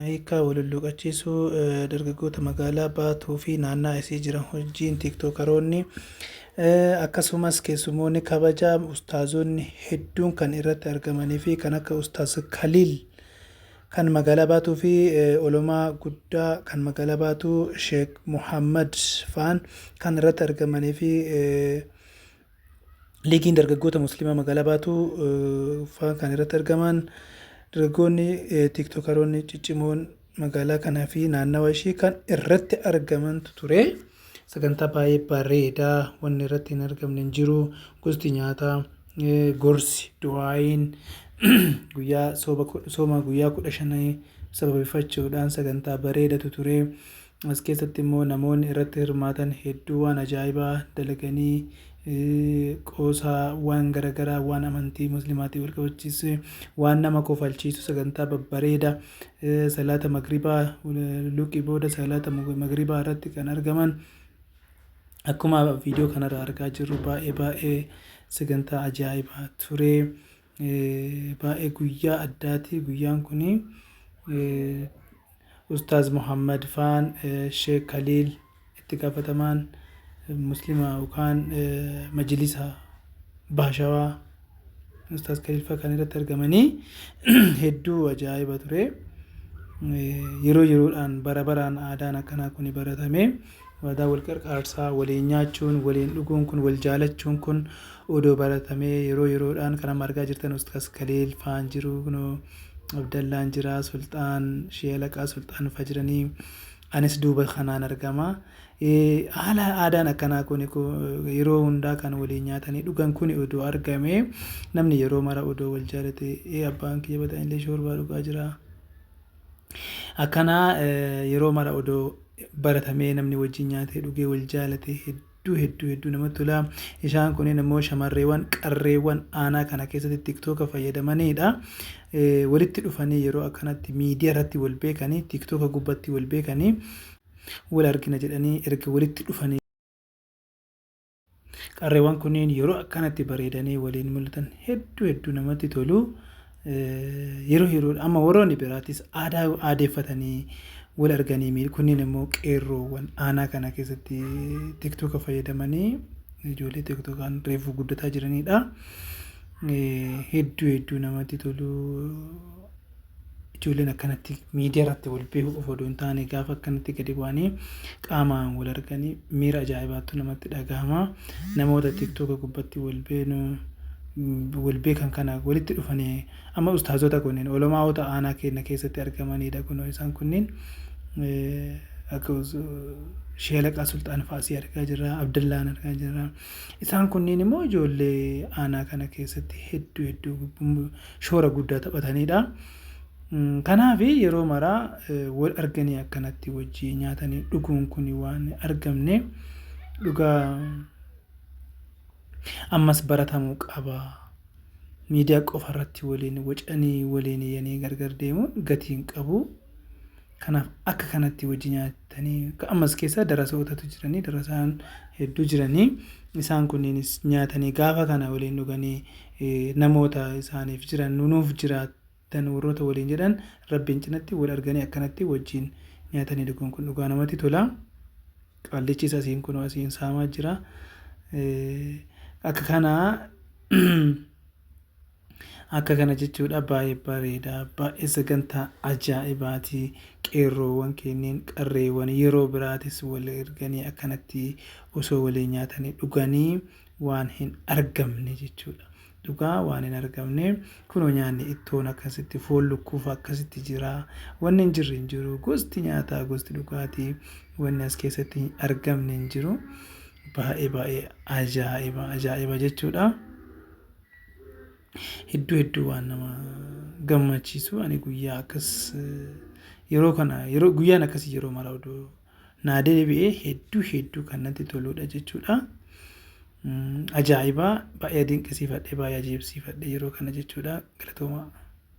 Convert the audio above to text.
Hiikkaa Walhulluuqachiisuu Dargaggoota Magaalaa Baatuu fi naannaa isii jiran wajjiin Tiiktookaroonni akkasumas keessummoonni kabajaa ustaazonni hedduun kan irratti argamanii fi kan akka Ustaaz Kaliil kan magaalaa Baatuu fi olomaa guddaa kan magaalaa Baatuu Sheek Muhammad faan kan irratti argamanii fi Liigiin dargaggoota Musliimaa magaalaa Baatuu faa kan irratti argamaan dargaggoonni tiiktokaroonni ciccimoon magaalaa kanaa fi naannawa ishii kan irratti argamantu ture. Sagantaa baay'ee bareedaa wanni irratti hin argamne hin jiru. Gosti nyaataa, gorsi, du'aayiin guyyaa sooma guyyaa kudha shanii sababeeffachuudhaan sagantaa bareedatu ture. As keessatti immoo namoonni irratti hirmaatan hedduu waan ajaa'ibaa dalaganii qoosaa waan garagaraa waan amantii muslimaatiin wal qabachiise waan nama kofalchiisu sagantaa babbareeda salaata magribaa luqii booda salaata magribaa irratti kan argaman akkuma viidiyoo kanarra argaa jirru baay'ee baay'ee sagantaa ajaa'ibaa ture. Baay'ee guyyaa addaati guyyaan kun. Ustaaz Muhammad faan Sheek Kaliil itti gaafatamaan muslima yookaan majilisa Baashawaa Ustaaz Kaliil faa kan irratti argamanii hedduu ajaa'iba ture. Yeroo yeroodhaan bara baraan aadaan akkanaa kun baratamee Waadaa wal qarqaarsaa, waliin nyaachuun, waliin dhuguun kun, wal jaalachuun kun odoo baratamee yeroo yeroodhaan kan amma argaa jirtan Ustaaz Kaliil faan jiru kunoo Abdallaan jira, Sulxaan, Shee Alaqaa Sulxaan fa jiranii anis duuba kanaan argama. Haala aadaan akkanaa kuni yeroo hundaa kan waliin nyaatanii dhugan kuni odoo argamee namni yeroo mara odoo wal jaalatee abbaan kiyya bada anillee shoorbaa dhugaa jira, Akkanaa yeroo mara odoo baratamee namni wajjin nyaatee dhugee wal jaalatee hedduu hedduu hedduu namatti tola. Isaan kunneen immoo shamarreewwan qarreewwan aanaa kana keessatti tiktooka fayyadamanidha. Walitti dhufanii yeroo akkanatti miidiyaa irratti wal beekanii tiktooka gubbatti wal beekanii wal argina jedhanii erga walitti dhufanii Qarreewwan kunneen yeroo akkanatti bareedanii waliin mul'atan hedduu hedduu namatti tolu. Yeroo yeroo amma warroonni biraatis aadaa aadeeffatanii wal arganii miil kunneen immoo qeerroowwan aanaa kana keessatti tiktoka fayyadamanii ijoollee tiktokaan reefuu guddataa jiranidha. Hedduu hedduu namatti tolu. Ijoolleen akkanatti miidiyaa irratti wal beekuu qofa odoo hin taane gaafa akkanatti gadi bu'anii qaamaan wal arganii miira ajaa'ibaattu namatti dhagahama. Namoota tiktoka gubbatti wal beenu wal beekan kana walitti dhufanii amma ustaazota kunniin olamaa'ota aanaa keenya keessatti argamanidha kunoo isaan kunniin akka sheelaqaa sulxaan faasii argaa jirra abdallaan argaa jirra isaan kunniin immoo ijoollee aanaa kana keessatti hedduu hedduu shoora guddaa taphataniidha. Kanaaf yeroo maraa wal arganii akkanatti wajjii nyaatanii dhuguun kun waan argamne dhugaa ammas baratamuu qaba. Miidiyaa qofa irratti waliin wacanii waliin yanii gargar deemuun gatiin qabu. Kanaaf akka kanatti wajji nyaatanii ka ammas keessa darasootatu jiranii darasaan hedduu jiranii isaan kunniinis nyaatanii gaafa kana waliin dhuganii namoota isaaniif jiran nu nuuf jiraattan warroota waliin jedhan rabbiin cinatti wal arganii akkanatti wajjiin nyaatanii dhuguun kun dhugaa namatti tola qaallichis asiin kunoo asiin saamaa jira akka kana Akka kana jechuudha baay'ee bareeda baay'ee sagantaa ajaa'ibaati qeerroowwan keenneen qarreewwan yeroo biraatis wal erganii akkanatti osoo walii nyaatanii dhuganii waan hin argamne jechuudha. Dhugaa waan hin argamne kunoo nyaanni ittoon akkasitti foon lukkuuf akkasitti jira wanni hin jirre hin jiru gosti nyaataa gosti dhugaatii wanni as keessatti hin argamne hin jiru baay'ee baay'ee ajaa'iba ajaa'iba jechuudha. Hedduu hedduu waan nama gammachiisu ani guyyaa akkas yeroo kana yeroo guyyaan akkasii yeroo mara oduu naa deebi'ee hedduu hedduu kan natti toludha jechuudha. Ajaa'ibaa baay'ee dinqisiifadhe baay'ee ajaa'ibsiifadhe yeroo kana jechuudha galatoomaa.